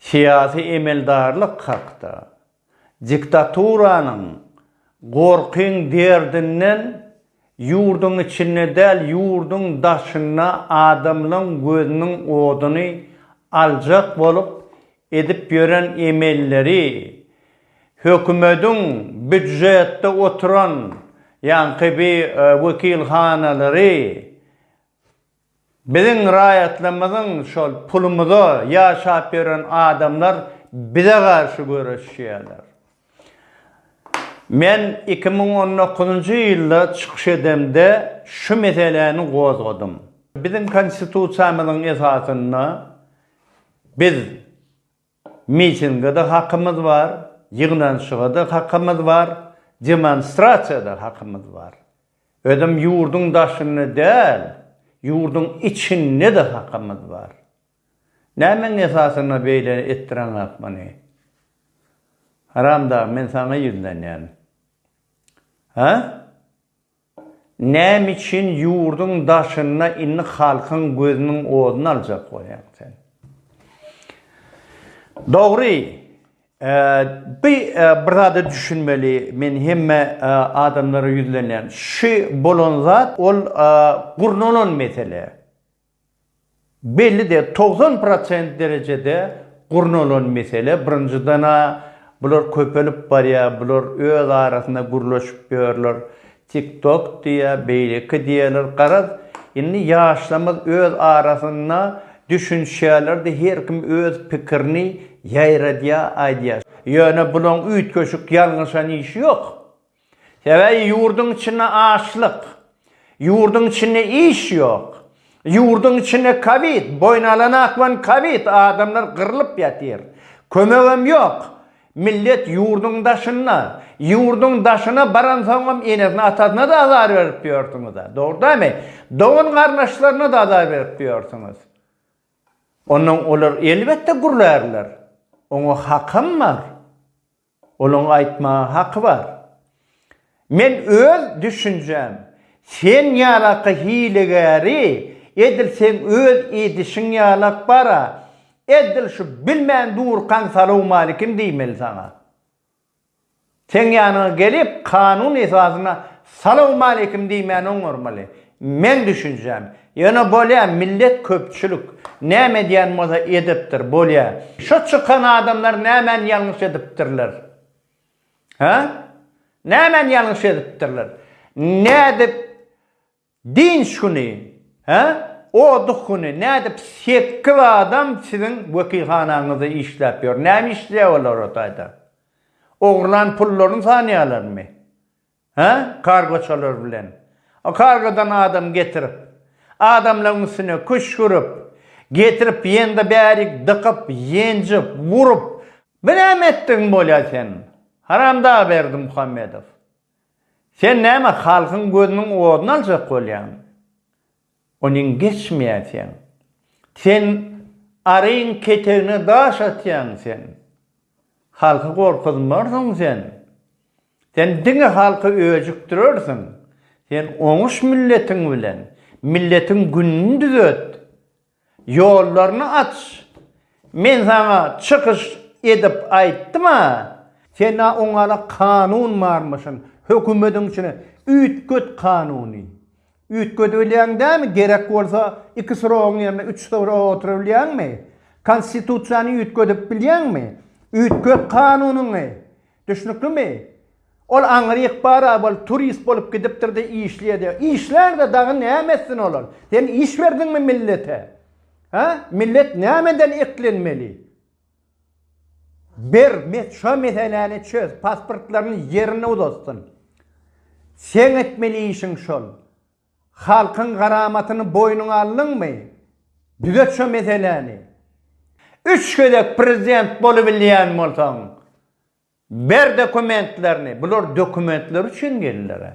Syýasy emeldarlyk hakda, Diktaturanyň gorkyň derdinden ýurduň içinde däl ýurduň daşynda adamlaň gözüniň oduny aljak bolup edip ýören emelleri hökümediň býudjetde oturan ýaňky bir wekilhanalary Biziň raýatlarymyzyň şol pulumyza ýaşap ýören adamlar bize garşy göreşýärler. Men iki müň on dokuzynjy ýylda çykyş edemde şu meseläni gozgadym. Biziň Konstitusiýamyzyň esasynda biz Mitinge-de hakymyz bar, ýygnanyşyga-da hakymyz bar, demonstrasiýa-da hakymyz bar. Özem ýurduň daşynda däl, ýurduň içinde-de hakymyz bar. Nämäň esasynda beýle etdireňok muny? Haramdag, men saňa ýüzlenýän. Hä? Näme üçin ýurduň daşynda indi halkyň gözüniň oduny aljak bolýaň sen? Dogry, bi bir zada düşünmeli, men hemme adamlara ýüzlenýän. Şu bolan zat ol gurnalan mesele. Belli däl, togsan prosent derejede gurnalan mesele. Birinjiden-ä, bular köpelip barýar, bular öz arasynda gürleşip ýörler. Tik-tok diýýär, beýleki diýýärler. Garaz, indi ýaşlarymyz öz arasynda düşünişýärler-de, her kim öz pikirini ýaýradýar, aýdýar. Ýöne bularyň üýtgeşik ýalňyşan işi ýok. Sebäbi ýurduň içinde açlyk, ýurduň içinde iş ýok, ýurduň içinde kowid, boýun alan akman kowid, adamlar gyrlyp ýatyr. Kömegem ýok. Millet ýurduň daşynda. Ýurduň daşyna baransoňam enesine atasyna-da azar berip ýörsüňiz-ä. Dogry dälmi? Dogan-garyndaşlaryna-da azar berip ýörsüňiz. Ondan olar elbetde gürlärler. Oňa hakam bar. Olaň aýtmaga haky bar. Men öz düşünjäm, sen ýalaky hilegäri edil seň öz edişiň ýalak bara edil şu bilmän durkaň salowmalikim diýmeli saňa. Seň ýanyňa gelip kanun esasyna salowmalikim diýmän oňarmaly. Meň düşünjäm, ýöne bolýa millet köpçülik näme edýän bolsa edipdir, bolýa. Şo çykan adamlar nämäni ýalňyş edipdirler? Hä? Nämäni ýalňyş edipdirler? Nädip dynç güni, hä? Oduh güni nädip sekiz adam siziň wekilhanaňyzda işläp ýör? Näme işleýär olar o taýda? Ogurlan pullaryny sanýarlarmy? Hä, kargoçalar bilen. O kargodan adam getirip, adamlaryň üstüne küşgürip, getirip ýende bärik dykyp, ýenjip, urup, bu näme etdigiň bolýa sen, haramdag Berdimuhamedow? Sen näme halkyň gözüniň oduny aljak bolýaň? Onuň geçmeýär sen. Sen aryň ketegine daş atýaň sen. Halky gorkuzmarsyň sen. Sen diňe halky öjükdirersiň. Sen oňuş milletiň bilen. Milletiň gününi düzet. Ýollaryny aç. Men saňa çykyş edip aýtdym-a, sen-ä oňa-da kanun barmyşyn, hökümetiň içine üýtget kanuny. Üýtgedibilýäň dämi, gerek bolsa iki srogyň ýerine üç srok oturybilýäňmi? Konstitusiýany üýtgedip bilýäňmi? Üýtget kanunyňy. Düşnüklimi? Ol aňry ykbara bolup, turist bolup gidipdir-de işleýär-de. Işlär-de dagy näme etsin olar? Sen iş berdiňmi millete? Hä? Millet nämeden eklenmeli? Ber, şo meseläni çöz, pasportlaryny ýerine uzatsyn. Seň etmeli işiň şol. Halkyň garamatyny boýnuňa aldyňmy? Düzet şo meseläni. Üç gezek prezident bolubilýän bolsaň, ber dokumentlerini. Bular dokumentler üçin geldiler-ä.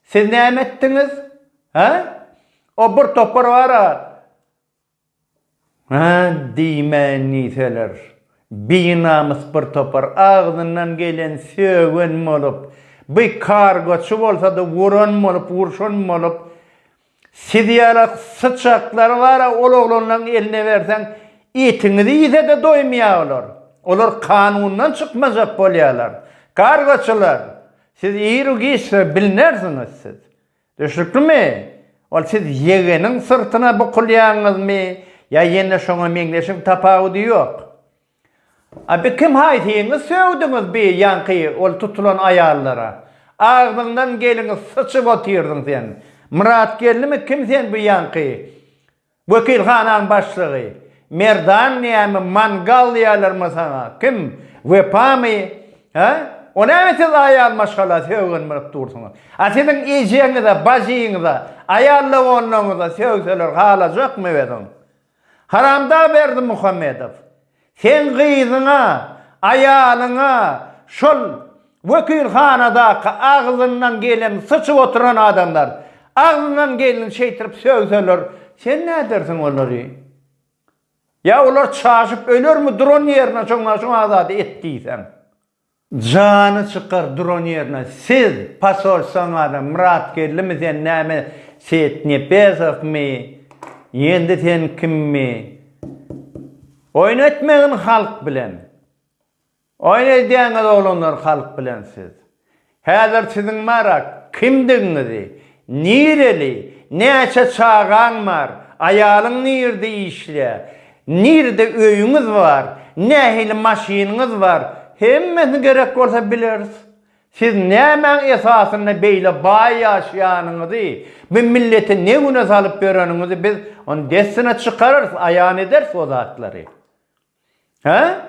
Siz näme etdiňiz? Hä? O bir topar bar-a, Hä, diýmäýin diýseler, binamys bir topar agzyndan gelen sögen bolup, bi kargoçy bolsa-da wuran bolup, wurşan bolup, siz ýala syçaklar bar-a, ol oglanlaň eline berseň, etiňizi iýse-de doýmaýar olar. Olar kanundan çykmajak bolýarlar. Kargoçylar, siz ir-u giçdir, bilnersiňiz siz. Düşnüklimi? Ol siz ýegeniň syrtyna bukulýaňyzmy ýa ýene şoňa meňzeşmi tapawudy ýok. A bi kim haýsyňyz sögdüňiz bi ýaňky ol tutulan aýallara? Agzyňdan gelini syçyp otyrdyň sen. Myrat gelnimi kim sen bu ýaňky? Wekilhanaň başlygy, Merdan näme mangal diýýärlermi saňa, kim, Wepamy, hä? O näme siz aýal maşgala sögenmerik dursuňyz? A siziň ejeňize, bajyňyza, aýal doganlaryňyza sögseler halajakmy özüň? Haramdag Berdimuhamedow, Seň gyzyňa, aýalyňa şol wekilhanadaky agzyndan gelen syçyp oturan adamlar, agzyndan geleni şeýtirip sögseler, sen nädersiň olary? Ýa olar çaşyp ölermi duran ýerine şoňa şoňa zady et diýseň? Jany çykar duran ýerine siz pasol soňada Myrat Geldimi sen näme Seýit Nepesowmy ýendi sen kimmi oýun etmegin halk bilen oýun edýäňiz oglanlar halk bilen siz Häzir siziň marak, kimdigiňizi, nireli, näçe çagaň bar, aýalyň nirde işleýär, nirde öýüňiz bar, nähili maşynyňyz bar, hemmesini gerek bolsa bileris. Siz nämäň esasynda beýle baý ýaşaýanyňyzy, bu milleti ne güne salyp ýöreniňizi biz ony dessine çykararys, aýan ederis o zatlary. Hä?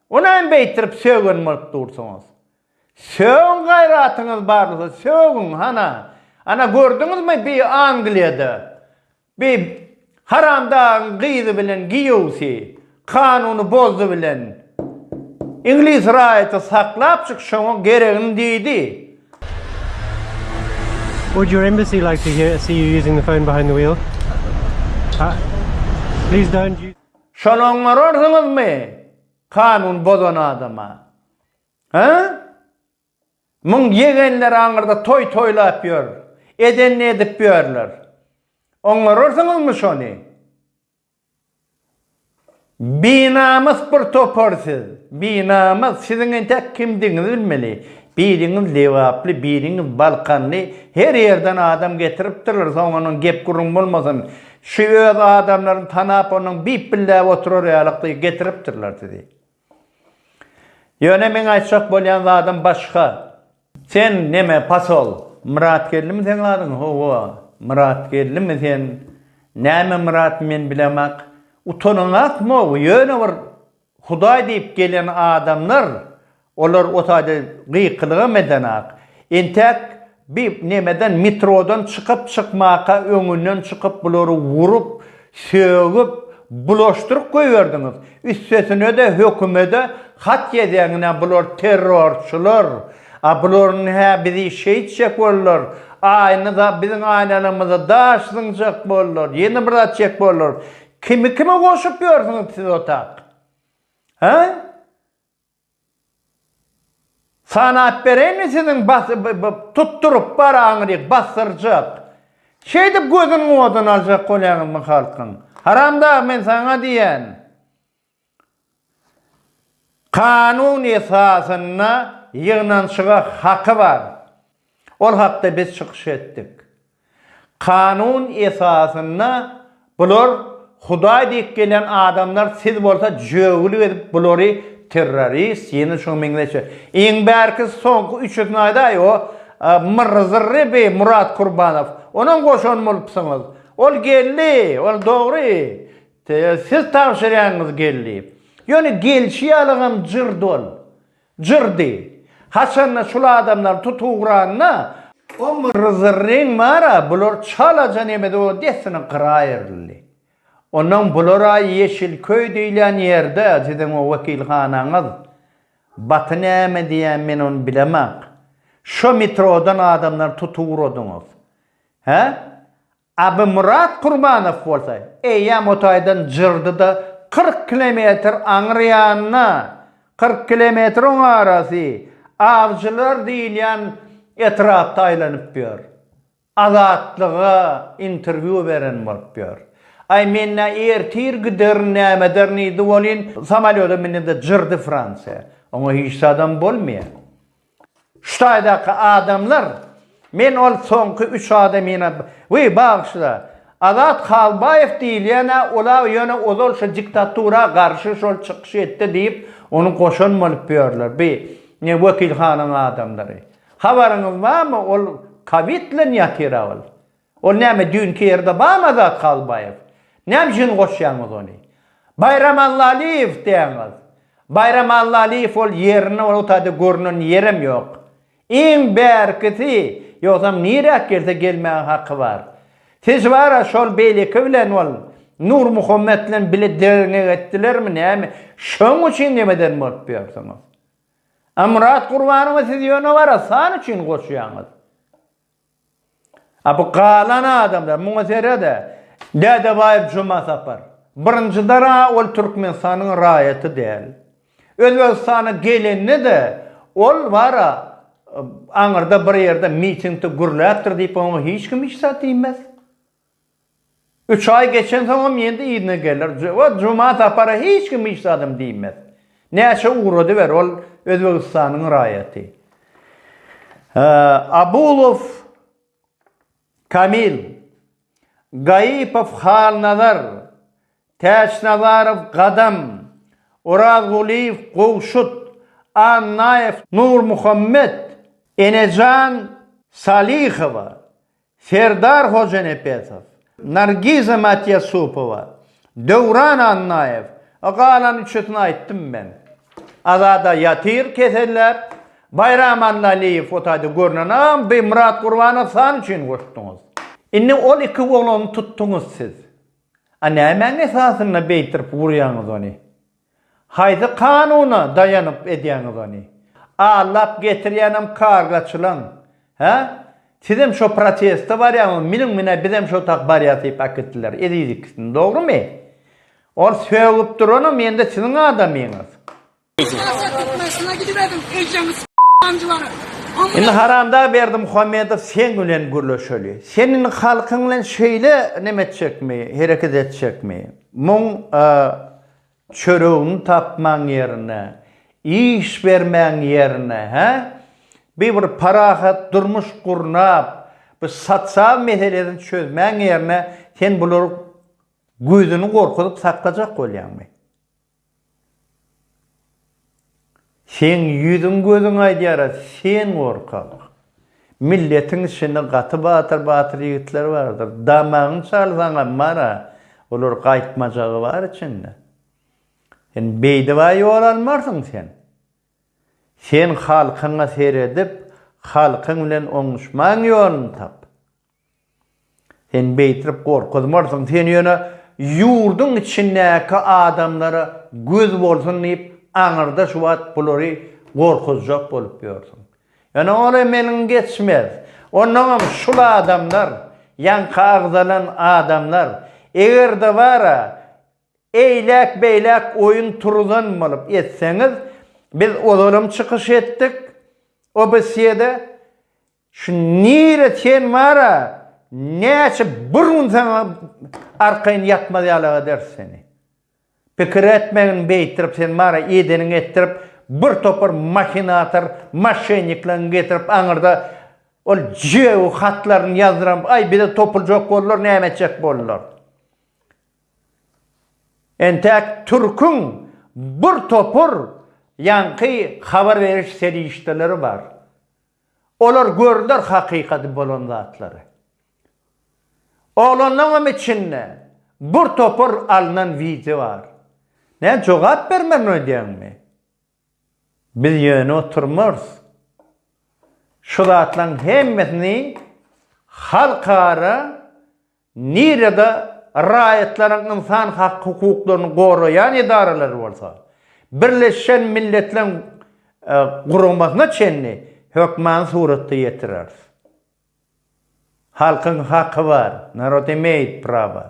O näme beýtirip sögen bolup dursuňyz? Sögüň gaýratyňyz barlysa sögüň hana. Ana gördüňizmi bi Angliýada bi haramdagyň gyzy bilen giýewsi kanuny bozdy bilen Iňlis raýaty saklapjyk şoňa geregini diýdi. Would your embassy like to hear see you using the phone behind the wheel? Please don't use. Şony oňararsyňyzmy, kanun bozan adama? Hä? Muň ýegenleri aňyrda toý toýlap ýör, edenini edip ýörler. Oňararsyňyzmy şony? Binamys bir topar siz, binamys. Siziň entek kimdigiňizi bilmeli. Biriňiz lebaply, biriňiz balkanly, her ýerden adam getiripdirler, soň onuň gep-gürrüň bolmasyn. Şu öz adamlaryny tanap onuň bip billäp oturar ýalykdy getiripdirler sizi. Ýöne meň aýtjak bolýan zadym başga. Sen neme pasol? Myrat Geldimi seň adyň? Howa, Myrat Geldimi sen? Näme Myrat men bilemok. Utanyňakmy ow? Ýöne bir Hudaý diýip gelen adamlar, olar o taýda gykylygam edenok. Entäk bi nemeden, metrodan çykyp çykmaka öňünden çykyp bulary urup, sögüp, bulaşdyryp goýberdiňiz. Üstesinede hökümede hat ýazýaňyz a bular terrorçylar, a bularyň hä bizi şeýtjek boldular, aýna da biziň aýnalarymyza daş zyňjak boldular, ýene bir zat çek boldular. Kimi kime goşup ýörsüňiz siz otag? Hä? Sanap bereýinmi siziň tutduryp baraňyzy basdyrjak? Şeýdip gözüniň oduny aljak bolýaňyzmy halkyň? Haramdag men saňa diýýän. Kanun esasynda ýygnanyşyga haky bar. Ol hakda biz çykyş etdik. Kanun esasynda bular Hudaý diýip gelen adamlar siz bolsa jögül gezip bulary terrorist ýene şuňa meňzeşje iň bärkisi soňky üçüsini aýdaý o Myrry Zyrry bi Murat Kurbanow onam goşan bolupsyňyz ol geldi ol dogry Tä siz tabşyrýanyňyz geldi. Ýöne gelşi ýalygam jyr dol. Jyrdy. Haçanda şul adamlary tut ugranda. O myrrzyryň bar-a, bular çalaja nemedo dessine gyra aýryldy. Onnoň bular-a Ýeşilköý diýilýän ýerde, siziň o wekilhanaňyz. Baty näme diýýän men ony bilemak. Şo metrodan adamlary tut ugradyňyz. Hä? Abymyrat Kurbanow bolsa eýýäm o taýdan jyrdy-da, kyrk kilometr aňry ýanyna, kyrk kilometr oň arasy, Awjylar diýilýän etrapda aýlanyp ýör. Azatlyga interwýu beren bolup ýör. Aý, men nä ertir giderin, näme ederin diýdi welin, samolýoda mindi-de jyrdy Fransiýa. Oňa hiç zadam bolmaýar. Şu taýdaky adamlar, men ol soňky üç adamyna, wiý, bagyşla, Azat Halbaýew diýilýän-ä ol-a ýöne ozal şu diktatura garşy şol çykyş etdi diýip, ony goşan bolup ýörler, bi, ne, wekilhanaň adamlary. Habaryňyz barmy, ol kowid bilen ýatyr-a ol. Ol näme düýnki ýerde bamy Azat Halbaýew? Näme üçin goşýaňyz ony? Baýram Allalyýew diýýäňiz. Baýram Allalyýew ol ýerinde ol otady görnen ýerem ýok. Iň bärkisi ýogsam niräk gelse gelmäge haky bar. Siz bara şol beýleki bilen ol Nurmuhammet bilen bile derňek etdilermi näme şoň üçin nemeden bolup ýörsiňiz. A Myrat Gurbanowa siz ýöne bara san üçin goşýaňyz. A bu galan adamlar, muňa sere-de, Dädebaýew Jumasapar. Birinjiden-ä ol Türkmenistanyň raýaty däl. Özbegistana gelende-de, ol bara aňyrda bir ýerde mitingde gürläpdir diýip, oňa hiç kim hiç zat diýmez. Üç aý geçensoňam ýene-de yzyna geler we Juma Sapara hiç kim hiç zadam diýmez. Näçe ugradyber, ol Özbegistanyň raýaty. Abulow Kamil, Gaýypow Halnazar, Täçnazarow Gadam, Orazgulyýew Gowşut, Annaýew Nurmuhammet, Enejan Salyhowa, Serdar Hojanepesow, Nargiza Matýasupowa, Döwran Annaýew, a galan üçüsini aýtdym men. Azada ýatyr keselläp, Baýram Annalyýew otaýda görnen agam bi Myrat Gurbanow san üçin goşduňyz. Indi ol iki oglany tutduňyz siz. A nämäň esasynda beýtirip urýaňyz ony? Haýsy kanuna daýanyp edýäňiz ony? Allap getirýänem kargaçylaň, hä? Sizem şo proteste barýaňyzmy? Miniň mine bizem şo tak barýas diýip äkitdiler eziz ikisini, dogrymy? Ol sögüp duranam ýene-de siziň adamyňyz. Ýasa türkmenistana gidiberdim ejeňi s**anjylara. Indi haramdag Berdimuhamedow sen bilen gürleşeli. Sen indi halkyň bilen şeýle neme etjekmi, hereket etjekmi? Muň Çöregini tapmaň ýerine, iş bermäň ýerine, hä? Bi bir parahat durmuş gurnap, bi sosial meselesini çözmäň ýerine sen bular gözüni gorkuzyp saklajak bolýaňmy? Seň ýüzüň gözüň aýdýara sen gorkak. Milletiň içinde gaty batyr batyr ýigitler bardyr. Damagyň çalsaňam bara olar gaýtmajagy bar içinde. Sen beýdibä ýol almarsyň sen. Sen halkyňa seredip halkyň bilen oňuşmaň ýoluny tap. Sen beýtirip gorkuzmarsyň, sen ýöne ýurduň içindäki adamlara göz bolsun diýip, aňyrda şu wagt bulary gorkuzjak bolup ýörsüň. Ýöne ol hem eliňi geçmez. Onnoňam şul adamlar, ýaňky agzalan adamlar, eger-de bar-a, eýläk-beýläk oýun turuzan bolup etseňiz, biz ozalam çykyş etdik, OBSYE-de, Şu nire sen bara näçe bir gün saňa arkaýyn ýatmaz ýalak ederis seni. Pikir etmegin beýtdirip sen bara edeniňi etdirip bir topar mahinator maşennikleň getirip aňyrda ol jew hatlaryny ýazdyram aý bize topuljak boldular näme etjek boldular. Entäk türküň bir topar ýaňky habar beriş serişdeleri bar. Olar görler hakykady bolan zatlary. Oglanlaňam içinde bur topar alnan wideo bar. Näme jogap bermerin öýdýäňmi? Biz ýöne oturmarys. Şu zatlaň hemmesini halkara Nirede raýatlaryň ynsan hak hukuklaryny goraýan edaralary bolsa, Birleşen Milletleriň guramasyna çenli hökmany suratda ýetireris. Halkyň haky bar, narod imeýit praba.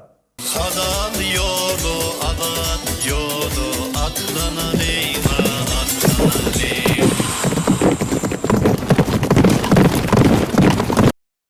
Hazal ýoly azat ýoly atlanalyň a atlanalyň.